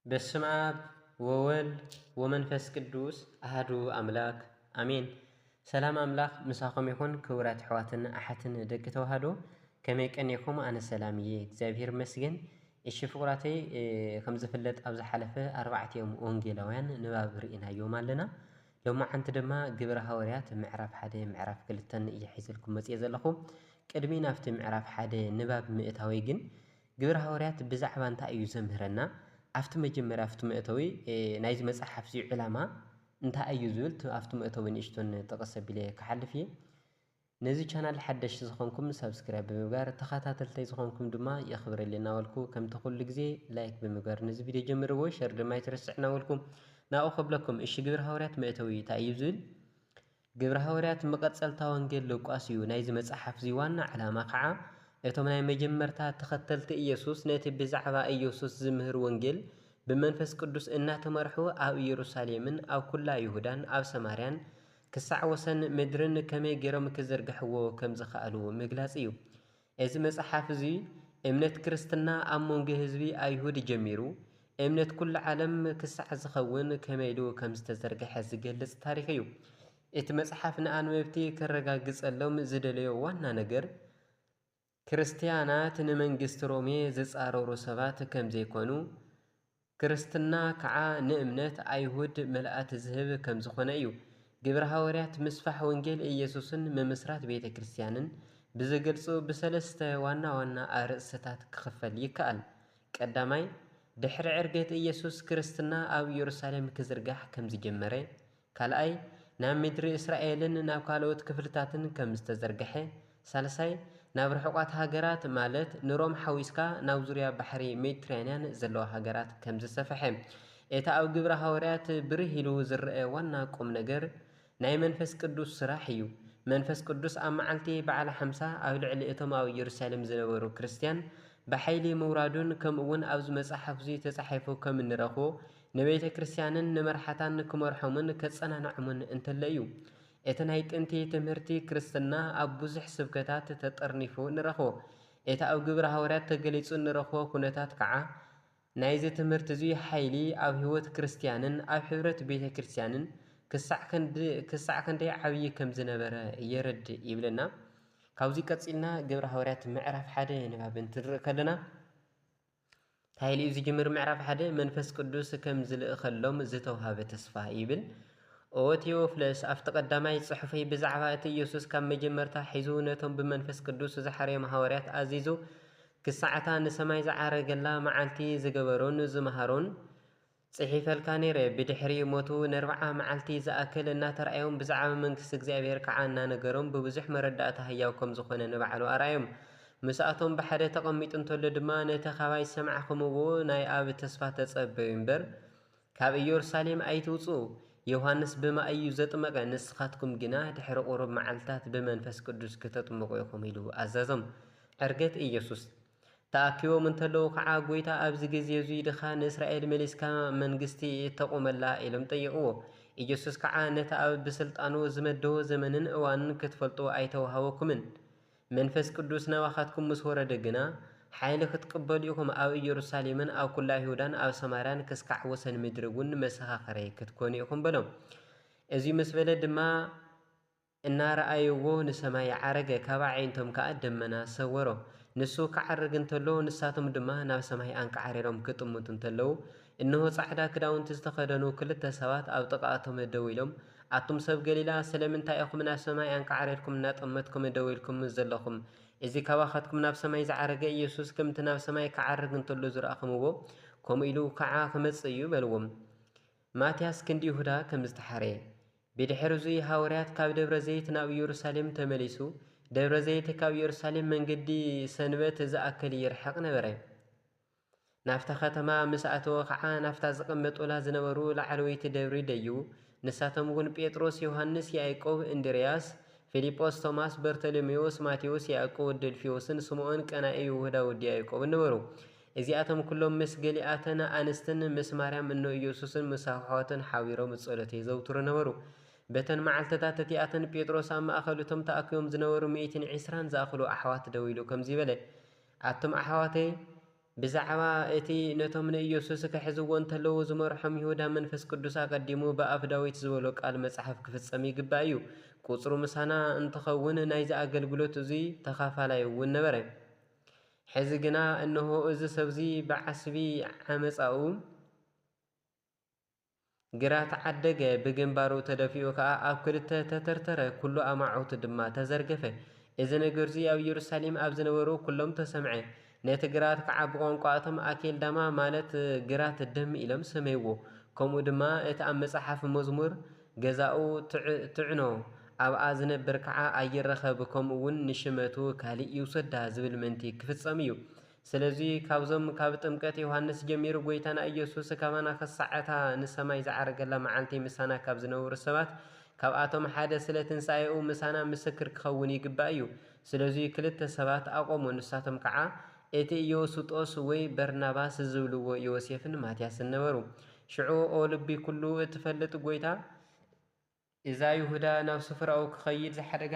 በስመ አብ ወወልድ ወመንፈስ ቅዱስ አህዱ አምላክ አሜን። ሰላም አምላክ ምሳኹም ይኹን ክቡራት ኣሕዋትን ኣሓትን ደቂ ተዋህዶ ከመይ ቀኒኹም? ኣነ ሰላም እየ እግዚኣብሔር ይመስገን። እሺ ፍቁራተይ ከም ዝፍለጥ ኣብ ዝሓለፈ ኣርባዕቲኦም ወንጌላውያን ንባብ ርኢናዮም ኣለና ሎማዓንቲ ድማ ግብረ ሃወርያት ምዕራፍ ሓደ ምዕራፍ ክልተን እየ ሒዘልኩም መጽየ ዘለኹ ቅድሚ ናብቲ ምዕራፍ ሓደ ንባብ ምእታወይ ግን ግብረ ሃወርያት ብዛዕባ እንታይ እዩ ዘምህረና ኣብቲ መጀመርያ ኣብቲ መእተዊ ናይዚ መጽሓፍ እዚ ዕላማ እንታይ እዩ ዝብል ኣብቲ መእተዊ ንእሽቶን ጥቕስ ኣቢለ ክሓልፍ እየ ነዚ ቻናል ሓደሽቲ ዝኾንኩም ሳብስክራይብ ብምግባር ተኻታተልተይ ዝኾንኩም ድማ የኽብረለይ እናበልኩ ከምቲ ኩሉ ግዜ ላይክ ብምግባር ነዚ ቪድዮ ጀምርዎ ሸር ድማ ኣይትረስዕ እናበልኩ ናብኡ ከብለኩም እሺ ግብረ ሃዋርያት መእተዊ እንታይ እዩ ዝብል ግብረ ሃዋርያት መቐጸልታ ወንጌል ሉቃስ እዩ ናይዚ መጽሓፍ እዚ ዋና ዕላማ ከዓ እቶም ናይ መጀመርታ ተኸተልቲ ኢየሱስ ነቲ ብዛዕባ ኢየሱስ ዝምህር ወንጌል ብመንፈስ ቅዱስ እናተመርሑ ኣብ ኢየሩሳሌምን ኣብ ኩላ ይሁዳን ኣብ ሰማርያን ክሳዕ ወሰን ምድርን ከመይ ገይሮም ኪዝርግሕዎ ከም ዝኸኣሉ ምግላጽ እዩ። እዚ መጽሓፍ እዚ እምነት ክርስትና ኣብ መንጎ ህዝቢ ኣይሁድ ጀሚሩ እምነት ኩሉ ዓለም ክሳዕ ዝኸውን ከመይ ኢሉ ከም ዝተዘርግሐ ዝገልጽ ታሪኽ እዩ። እቲ መጽሓፍ ንኣንበብቲ ከረጋግጸሎም ዝደለዮ ዋና ነገር፣ ክርስትያናት ንመንግስቲ ሮሜ ዚጻረሩ ሰባት ከም ዘይኰኑ፣ ክርስትና ከኣ ንእምነት ኣይሁድ ምልኣት ዚህብ ከም ዝዀነ እዩ። ግብሪ ሃዋርያት ምስፋሕ ወንጌል ኢየሱስን ምምስራት ቤተ ክርስትያንን ብዚገልጹ ብሰለስተ ዋና ዋና ኣርእስትታት ኪኽፈል ይከኣል። ቀዳማይ፣ ድሕሪ ዕርገት ኢየሱስ ክርስትና ኣብ የሩሳሌም ኪዝርጋሕ ከም ዝጀመረ ካልኣይ፣ ናብ ምድሪ እስራኤልን ናብ ካልኦት ክፍልታትን ከም ዝተዘርግሐ፣ ሳልሳይ፣ ናብ ርሑቓት ሃገራት ማለት ንሮም ሓዊስካ ናብ ዙርያ ባሕሪ ሜዲትራንያን ዘለዋ ሃገራት ከም ዝሰፈሐ። እቲ ኣብ ግብሪ ሃዋርያት ብርህ ኢሉ ዝረኣ ዋና ቁም ነገር ናይ መንፈስ ቅዱስ ስራሕ እዩ። መንፈስ ቅዱስ ኣብ መዓልቲ በዓለ ሓምሳ ኣብ ልዕሊ እቶም ኣብ ኢየሩሳሌም ዝነበሩ ክርስትያን ብሓይሊ ምውራዱን ከምኡውን ኣብዚ መጽሓፍዚ ተጻሒፉ ከም እንረኽቦ ንቤተ ክርስቲያንን ንመርሓታን ክመርሖምን ከጸናንዖምን እንተሎ እዩ። እቲ ናይ ጥንቲ ትምህርቲ ክርስትና ኣብ ብዙሕ ስብከታት ተጠርኒፉ ንረኽቦ። እቲ ኣብ ግብሪ ሃዋርያት ተገሊጹ እንረኽቦ ኩነታት ከኣ ናይዚ ትምህርቲ'ዚ ሓይሊ ኣብ ሕይወት ክርስቲያንን ኣብ ሕብረት ቤተ ክርስቲያንን ክሳዕ ክንደይ ዓብዪ ከም ዝነበረ የረድእ ይብለና። ካብዚ ቀጺልና ግብሪ ሃዋርያት ምዕራፍ ሓደ ንባብ እንትንርኢ ከለና፣ ታይል'ዩ ዝጅምር ምዕራፍ ሓደ መንፈስ ቅዱስ ከም ዝልእኸሎም ዝተውሃበ ተስፋ ይብል። ኦ ቴዎፍለስ፣ ኣብቲ ቀዳማይ ጽሑፈይ ብዛዕባ እቲ ኢየሱስ ካብ መጀመርታ ሒዙ ነቶም ብመንፈስ ቅዱስ ዝሓረዮም ሃዋርያት ኣዚዙ ክሳዕ እታ ንሰማይ ዝዓረገላ መዓልቲ ዝገበሮን ዝመሃሮን ጽሒፈልካ ነይረ። ብድሕሪ ሞቱ ነርብዓ መዓልቲ ዝኣክል እናተራእዮም ብዛዕባ መንግስቲ እግዚኣብሔር ከዓ እናነገሮም ብብዙሕ መረዳእታ ህያው ከም ዝኾነ ንባዕሉ ኣርኣዮም። ምስኣቶም ብሓደ ተቐሚጡ እንተሎ ድማ ነቲ ካባይ ዝሰማዕኹምዎ ናይ ኣብ ተስፋ ተጸበዩ እምበር ካብ ኢየሩሳሌም ኣይትውጽኡ ዮሐንስ ብማይ እዩ ዘጥመቐ ንስኻትኩም ግና ድሕሪ ቁሩብ መዓልትታት ብመንፈስ ቅዱስ ክተጥምቑ ኢኹም ኢሉ ኣዘዞም። ዕርገት ኢየሱስ። ተኣኪቦም እንተለዉ ኸዓ ጐይታ ኣብዚ ግዜ እዙይ ድኻ ንእስራኤል መሊስካ መንግስቲ ተቑመላ ኢሎም ጠይቕዎ። ኢየሱስ ከዓ ነቲ ኣብ ብስልጣኑ ዝመደቦ ዘመንን እዋንን ክትፈልጡ ኣይተውሃበኩምን፣ መንፈስ ቅዱስ ናባኻትኩም ምስ ወረደ ግና ሓይሊ ክትቅበሉ ኢኹም ኣብ ኢየሩሳሌምን ኣብ ኩላ ይሁዳን ኣብ ሰማርያን ክስካዕ ወሰን ምድሪውን መሰኻኽረይ ክትኮኑ ኢኹም በሎም። እዙይ ምስ በለ ድማ እናረኣይዎ ንሰማይ ይዓረገ፣ ካብ ኣዒንቶም ከኣ ደመና ሰወሮ። ንሱ ክዓርግ እንተሎ፣ ንሳቶም ድማ ናብ ሰማይ ኣንቃዕሪሮም ክጥምቱ እንተለዉ፣ እንሆ ጻዕዳ ክዳውንቲ ዝተኸደኑ ክልተ ሰባት ኣብ ጥቓኣቶም ደው ኢሎም፣ ኣቱም ሰብ ገሊላ፣ ስለምንታይ ኢኹም ናብ ሰማይ ኣንቃዕሪርኩም እናጠመትኩም ደው ኢልኩም ዘለኹም? እዚ ካባኻትኩም ናብ ሰማይ ዝዓረገ ኢየሱስ ከምቲ ናብ ሰማይ ክዓርግ እንተሎ ዝረኣኹምዎ፣ ከምኡ ኢሉ ከኣ ክመጽእ እዩ በልዎም። ማትያስ ክንዲ ይሁዳ ከም ዝተሓርየ። ብድሕርዙይ ሃውርያት ካብ ደብረ ዘይት ናብ ኢየሩሳሌም ተመሊሱ፣ ደብረ ዘይት ካብ ኢየሩሳሌም መንገዲ ሰንበት ዝኣክል ይርሕቕ ነበረ። ናብታ ኸተማ ምስ ኣተወ ኸዓ ናብታ ዝቐመጡላ ዝነበሩ ላዕለወይቲ ደብሪ ደይቡ፣ ንሳቶምውን ጴጥሮስ፣ ዮሃንስ፣ ያእቆብ፣ እንድርያስ፣ ፊልጶስ፣ ቶማስ፣ በርተሎሜዎስ፣ ማቴዎስ፣ ያእቆብ ወዲ እልፍዮስን፣ ስምኦን ቀናኢ፣ ይሁዳ ወዲ ያእቆብን ነበሩ። እዚኣቶም ኩሎም ምስ ገሊኣተን ኣንስትን ምስ ማርያም እኖ ኢየሱስን ምስ ኣኅዋቱን ኃቢሮም እጸሎት የዘውትሩ ነበሩ። በተን መዓልትታት እቲኣተን ጴጥሮስ ኣብ ማእከል እቶም ተኣኪቦም ዝነበሩ ሚእትን ዒስራን ዝኣኽሉ ኣኅዋት ደው ኢሉ ከምዚ በለ፣ ኣቱም ኣኅዋተይ፣ ብዛዕባ እቲ ነቶም ንኢየሱስ ኪሕዝዎ እንተለዉ ዝመርሖም ይሁዳ መንፈስ ቅዱስ ኣቐዲሙ ብኣፍ ዳዊት ዝበሎ ቃል መጽሓፍ ኪፍጸም ይግባእ እዩ። ቍጽሩ ምሳና እንትኸውን ናይዚ ኣገልግሎት እዙይ ተኻፋላይ እውን ነበረ። ሕዚ ግና እነሆ እዚ ሰብዚ ብዓስቢ ዓመጻኡ ግራት ዓደገ፣ ብግንባሩ ተደፊኡ ከኣ ኣብ ክልተ ተተርተረ፣ ኵሉ ኣማዕውቱ ድማ ተዘርገፈ። እዚ ነገርዚ ኣብ ኢየሩሳሌም ኣብ ዝነበሩ ኵሎም ተሰምዐ። ነቲ ግራት ከዓ ብቋንቋ እቶም ኣኬልዳማ ማለት ግራት ደም ኢሎም ሰመይዎ። ከምኡ ድማ እቲ ኣብ መጽሓፍ መዝሙር ገዛኡ ትዕኖ ኣብኣ ዝነብር ከዓ ኣይረኸብ ከምኡ እውን ንሽመቱ ካሊእ ይውሰዳ ዝብል ምእንቲ ክፍፀም እዩ። ስለዚ ካብዞም ካብ ጥምቀት ዮሃንስ ጀሚሩ ጎይታና ኢየሱስ ካባና ክሳዕ እታ ንሰማይ ዝዓረገላ መዓልቲ ምሳና ካብ ዝነበሩ ሰባት ካብኣቶም ሓደ ስለ ትንሣኤኡ ምሳና ምስክር ክኸውን ይግባእ እዩ። ስለዚ ክልተ ሰባት ኣቆሙ ንሳቶም ከዓ እቲ ኢዮስጦስ ወይ በርናባስ ዝብልዎ ዮሴፍን ማትያስን ነበሩ። ሽዑ ኦ ልቢ ኩሉ እትፈልጥ ጎይታ እዛ ይሁዳ ናብ ስፍራኡ ክኸይድ ዝሓደጋ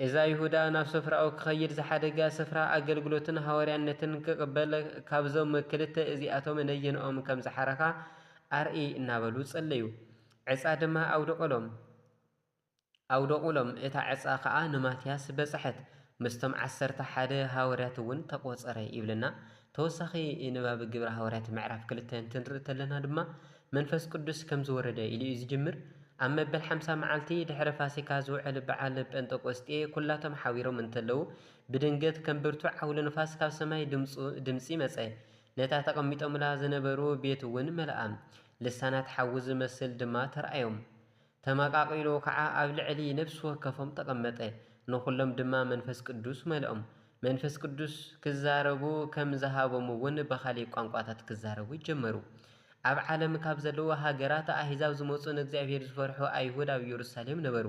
እዛ ይሁዳ ናብ ስፍራኡ ክኸይድ ዝሓደጋ ስፍራ ኣገልግሎትን ሃዋርያነትን ክቕበል ካብዞም ክልተ እዚኣቶም ነየንኦም ከም ዝሓረኻ ኣርእይ እናበሉ ጸለዩ። ዕፃ ድማ ኣውደቐሎም። ኣውደቑሎም፣ እታ ዕጻ ኸኣ ንማትያስ በጽሐት፣ ምስቶም ዓሰርተ ሓደ ሃወርያትውን ተቆጸረ ይብለና። ተወሳኺ ንባብ ግብሪ ሃወርያት ምዕራፍ ክልተ እንትንርኢ ተለና ድማ መንፈስ ቅዱስ ከም ዝወረደ ኢሉ እዩ ዝጅምር። ኣብ መበል ሓምሳ መዓልቲ ድሕሪ ፋሲካ ዝውዕል በዓል ጴንጠቆስጤ ኩላቶም ሓቢሮም እንተለዉ ብድንገት ከም ብርቱዕ ዓውሎ ንፋስ ካብ ሰማይ ድምጺ መጸ ነታ ተቐሚጦምላ ዝነበሩ ቤትውን መልኣ ልሳናት ሓዊ ዝመስል ድማ ተርኣዮም ተመቓቒሉ ኸዓ ኣብ ልዕሊ ነፍሲ ወከፎም ተቐመጠ፣ ንዅሎም ድማ መንፈስ ቅዱስ መልኦም። መንፈስ ቅዱስ ክዛረቡ ከም ዝሃቦምውን ብኻሊእ ቋንቋታት ክዛረቡ ጀመሩ። ኣብ ዓለም ካብ ዘለዉ ሃገራት ኣህዛብ ዝመጹ ንእግዚኣብሄር ዝፈርሑ ኣይሁድ ኣብ ኢየሩሳሌም ነበሩ።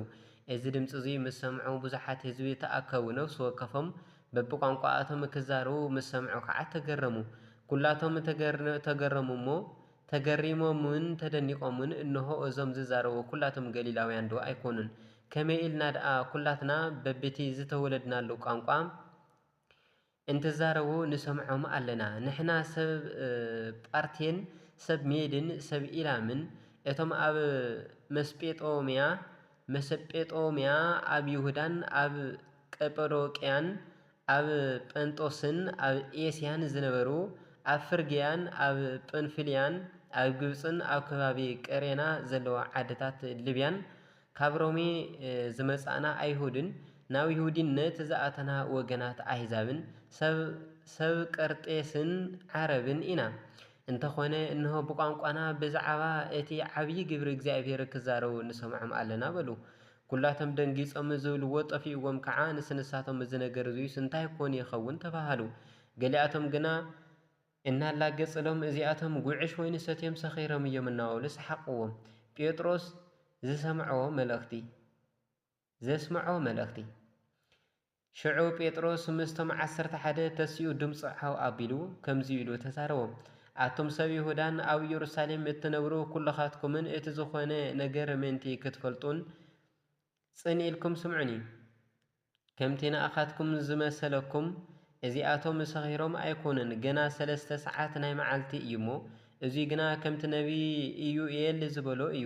እዚ ድምጺ እዚ ምስ ሰምዑ ብዙሓት ህዝቢ ተኣከቡ፣ ነፍሲ ወከፎም በብቋንቋኣቶም ክዛረቡ ምስ ሰምዑ ኸዓ ተገረሙ። ኵላቶም ተገረሙ እሞ ተገሪሞምን ተደኒቖምን፣ እንሆ፣ እዞም ዝዛረቡ ኵላቶም ገሊላውያንዶ ኣይኰኑን? ከመይ ኢልና ደኣ ኵላትና በብቲ ዝተወለድናሉ ቋንቋ እንትዛረቡ ንሰምዖም ኣለና? ንሕና ሰብ ጳርቴን ሰብ ሜድን ሰብ ኢላምን፣ እቶም ኣብ መስጴጦምያ፣ Mesopotamia፣ ኣብ ይሁዳን ኣብ ቀጰዶቅያን ኣብ ጰንጦስን ኣብ ኤስያን ዝነበሩ፣ ኣብ ፍርግያን ኣብ ጵንፍልያን ኣብ ግብጽን ኣብ ከባቢ ቀሬና ዘለዋ ዓድታት ልብያን ካብ ሮሜ ዝመጻእና ኣይሁድን ናብ ይሁዲነት ዝኣተና ወገናት ኣሕዛብን ሰብ ሰብ ቀርጤስን ዓረብን ኢና። እንተኾነ እንሆ ብቋንቋና ብዝዓባ እቲ ዓብዪ ግብሪ እግዚኣብሔር ክዛረቡ ንሰምዖም ኣሎና በሉ። ኩላቶም ደንጊጾም ዝብልዎ ጠፊኡዎም ከኣ ንስ ንሳቶም እዚ ነገር እዙይስ እንታይ ኮን ይኸውን ተባሃሉ። ገሊኣቶም ግና እናላገጽሎም እዚኣቶም ጉዕሽ ወይኒ ሰትዮም ሰኺሮም እዮም እናበሉ ሰሓቕዎም። ጴጥሮስ ዝሰምዖ መልእኽቲ ዘስምዖ መልእኽቲ። ሽዑ ጴጥሮስ ምስቶም ዓሰርተ ሓደ ተሲኡ ድምጹ ዓው ኣቢሉ ከምዚ ኢሉ ተዛረቦም፣ ኣቱም ሰብ ይሁዳን ኣብ ኢየሩሳሌም እትነብሩ ኵልኻትኩምን እቲ ዝዀነ ነገር ምእንቲ ክትፈልጡን ጽን ኢልኩም ስምዑኒ። ከምቲ ንኣኻትኩም ዝመሰለኩም፣ እዚኣቶም ሰኺሮም ኣይኰኑን፣ ገና ሰለስተ ሰዓት ናይ መዓልቲ እዩ እሞ፣ እዙይ ግና ከምቲ ነቢይ ኢዩኤል ዝበሎ እዩ፣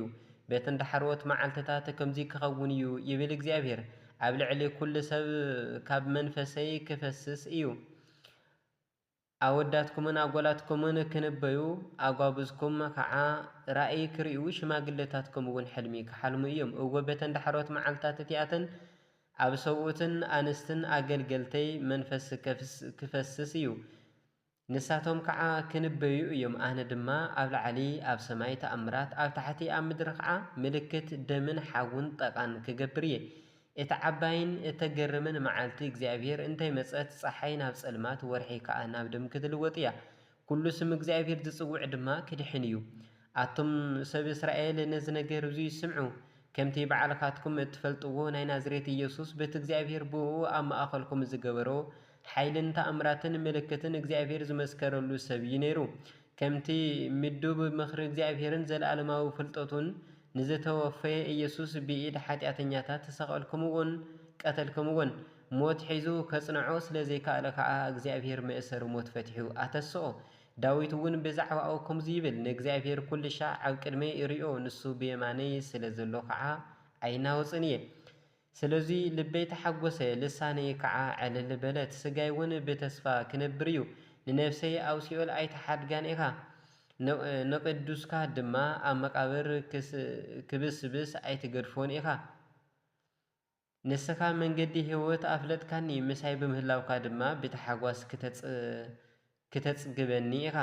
በተን ዳሕረዎት መዓልትታት ከምዙይ ክኸውን እዩ ይብል እግዚኣብሄር፣ ኣብ ልዕሊ ኵሉ ሰብ ካብ መንፈሰይ ክፈስስ እዩ፣ ኣወዳትኩምን ኣጓላትኩምን ክንበዩ፣ ኣጓብዝኩም ኸዓ ራእይ ክርእዩ፣ ሽማግለታትኩምውን ሕልሚ ክሓልሙ እዮም። እወ፣ በተን ዳሕረዎት መዓልትታት እቲኣተን ኣብ ሰብኡትን ኣንስትን ኣገልገልተይ መንፈስ ክፈስስ እዩ፣ ንሳቶም ከዓ ክንበዩ እዮም ኣነ ድማ ኣብ ላዕሊ ኣብ ሰማይ ተኣምራት ኣብ ታሕቲ ኣብ ምድሪ ከዓ ምልክት ደምን ሓውን ጠቃን ክገብር እየ እታ ዓባይን እተገርምን መዓልቲ እግዚኣብሄር እንተ መጸት ጸሓይ ናብ ጸልማት ወርሒ ከዓ ናብ ደም ክትልወጥ እያ ኩሉ ስም እግዚኣብሄር ዝጽውዕ ድማ ክድሕን እዩ ኣቱም ሰብ እስራኤል ነዚ ነገር እዙይ ስምዑ ከምቲ ባዕልካትኩም እትፈልጥዎ ናይ ናዝሬት ኢየሱስ በቲ እግዚኣብሄር ብእኡ ኣብ ማእኸልኩም ዝገበሮ ሓይልን ተኣምራትን ምልክትን እግዚኣብሄር ዝመስከረሉ ሰብ እዩ ነይሩ። ከምቲ ምዱብ ምኽሪ እግዚኣብሄርን ዘለኣለማዊ ፍልጠቱን፣ ንዝተወፈየ ኢየሱስ ብኢድ ሓጢኣተኛታት ሰቐልክምዎን ቀተልክምዎን። ሞት ሒዙ ከጽንዖ ስለ ዘይከኣለ ከኣ እግዚኣብሄር መእሰሪ ሞት ፈቲሑ ኣተስኦ። ዳዊት እውን ብዛዕባኡ ከምዚ ይብል፣ ንእግዚኣብሄር ኩልሻዕ ኣብ ቅድመይ እርእዮ፣ ንሱ ብየማነይ ስለ ዘሎ ከኣ ኣይናወጽን እየ። ስለዙይ ልበይ ተሓጐሰ፣ ልሳነይ ከዓ ዕልል በለት፣ ሥጋይውን ብተስፋ ኪነብር እዩ፣ ንነፍሰይ ኣብ ሲኦል ኣይትሓድጋን ኢኻ፣ ንቅዱስካ ድማ ኣብ መቃብር ኪብስብስ ኣይትገድፎን ኢኻ። ንስኻ መንገዲ ሕይወት ኣፍለጥካኒ፣ ምሳይ ብምህላውካ ድማ ብታሕጓስ ክተጽግበኒ ኢኻ።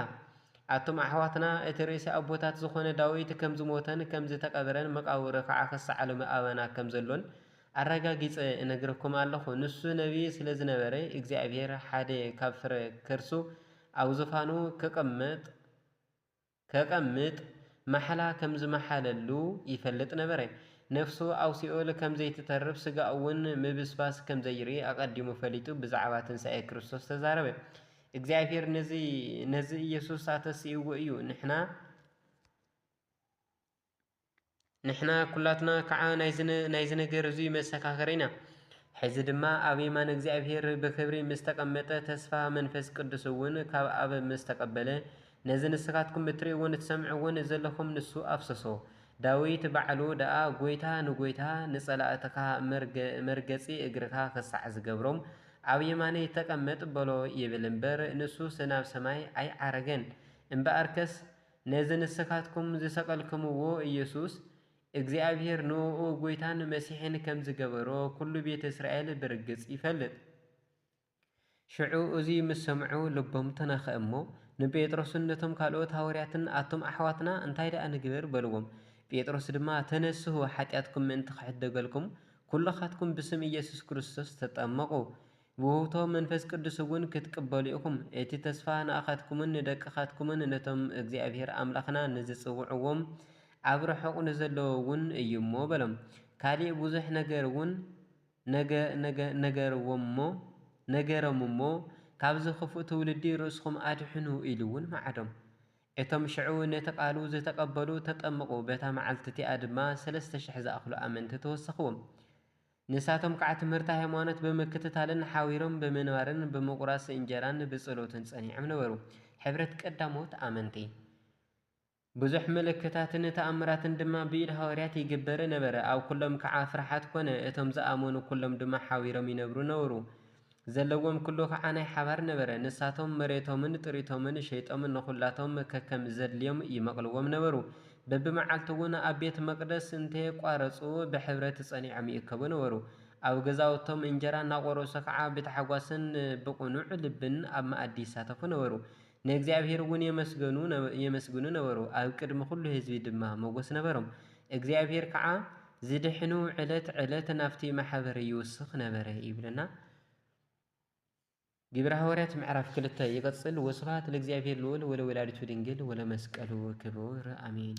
ኣቱም ኣሕዋትና እቲ ርእሲ ኣቦታት ዝኾነ ዳዊት ከም ዝሞተን ከም ዝተቀብረን መቃብሩ ከኣ ክሳዕ ሎሚ ኣባና ከም ዘሎን ኣረጋጊጸ እነግረኩም ኣለኹ። ንሱ ነብዪ ስለ ዝነበረ እግዚኣብሄር ሓደ ካብ ፍረ ከርሱ ኣብ ዙፋኑ ክቅመጥ ከቐምጥ ማሕላ ከም ዝመሓለሉ ይፈልጥ ነበረ። ነፍሱ ኣብ ሲኦል ከም ዘይትተርፍ፣ ስጋኡውን ምብስባስ ከም ዘይርኢ ኣቐዲሙ ፈሊጡ ብዛዕባ ትንሳኤ ክርስቶስ ተዛረበ። እግዚኣብሄር ነዚ ኢየሱስ ኣተሲእዎ እዩ። ንሕና። ንሕና ኵላትና ኸዓ ናይዚ ነገር እዙይ መሰኻኽር ኢና። ሕዚ ድማ ኣብ የማን እግዚኣብሔር ብኽብሪ ምስ ተቐመጠ ተስፋ መንፈስ ቅዱስ እውን ካብ ኣብ ምስ ተቐበለ ነዚ ንስኻትኩም እትርእይዎን እትሰምዕዎን ዘለኹም ንሱ ኣፍሰሶ። ዳዊት ባዕሉ ደኣ ጐይታ ንጐይታ ንጸላእትኻ መርገጺ እግርኻ ኽሳዕ ዝገብሮም ኣብ የማነይ ተቐመጥ በሎ ይብል እምበር ንሱስ ናብ ሰማይ ኣይዓረገን እምበኣርከስ ነዚ ንስካትኩም ዝሰቀልክምዎ ኢየሱስ እግዚኣብሔር ንእኡ ጎይታን መሲሕን ከም ዝገበሮ ኩሉ ቤት እስራኤል ብርግጽ ይፈልጥ። ሽዑ እዙይ ምስ ሰምዑ ልቦም ተናኸ እሞ ንጴጥሮስን ነቶም ካልኦት ሃወርያትን ኣቱም ኣሕዋትና እንታይ ደኣ ንግበር በልዎም። ጴጥሮስ ድማ ተነስሁ ሓጢኣትኩም ምእንቲ ክሕደገልኩም ኩልኻትኩም ብስም ኢየሱስ ክርስቶስ ተጠመቁ ብውህብቶ መንፈስ ቅዱስ እውን ክትቅበሉ ኢኹም። እቲ ተስፋ ንኣኻትኩምን ንደቅኻትኩምን ነቶም እግዚኣብሄር ኣምላኽና ንዝጽውዕዎም ኣብ ርሑቕ ንዘለዉ እውን እዩ እሞ በሎም። ካልእ ብዙሕ ነገር እውን ነገሮም እሞ ካብዚ ኽፉእ ትውልዲ ርእስኹም ኣድሕኑ ኢሉ እውን መዓዶም። እቶም ሽዑ ነቲ ቓሉ ዝተቐበሉ ተጠምቑ፣ በታ መዓልቲ እቲኣ ድማ ሰለስተ ሽሕ ዝኣኽሉ ኣመንቲ ተወሰኽዎም። ንሳቶም ከዓ ትምህርተ ሃይማኖት ብምክትታልን ሓቢሮም ብምንባርን ብምቁራስ እንጀራን ብፀሎትን ፀኒዖም ነበሩ። ሕብረት ቀዳሞት ኣመንቲ። ብዙሕ ምልክታትን ተኣምራትን ድማ ብኢድ ሃዋርያት ይግበር ነበረ። ኣብ ኩሎም ከዓ ፍርሓት ኮነ፣ እቶም ዝኣመኑ ኩሎም ድማ ሓቢሮም ይነብሩ ነበሩ። ዘለዎም ኩሉ ከኣ ናይ ሓባር ነበረ። ንሳቶም መሬቶምን ጥሪቶምን ሸይጦም ንኹላቶም ከከም ዘድልዮም ይመቕልዎም ነበሩ። በብመዓልቱ'ውን ኣብ ቤት መቕደስ እንተየቋረጹ ብሕብረት ጸኒዖም ይእከቡ ነበሩ። ኣብ ገዛውቶም እንጀራ እናቖረሱ ከኣ ብታሕጓስን ብቕኑዕ ልብን ኣብ መኣዲ ይሳተፉ ነበሩ። ንእግዚኣብሔርውን የመስግኑ ነበሩ፣ ኣብ ቅድሚ ዅሉ ህዝቢ ድማ መጐስ ነበሮም። እግዚኣብሔር ከዓ ዝድሕኑ ዕለት ዕለት ናብቲ ማሕበር ይውስኽ ነበረ ይብለና። ግብረ ሐዋርያት ምዕራፍ ክልተ ይቅጽል ወስብሐት ለእግዚኣብሔር ልዑል ወለወላዲቱ ድንግል ወለመስቀሉ ክቡር አሜን።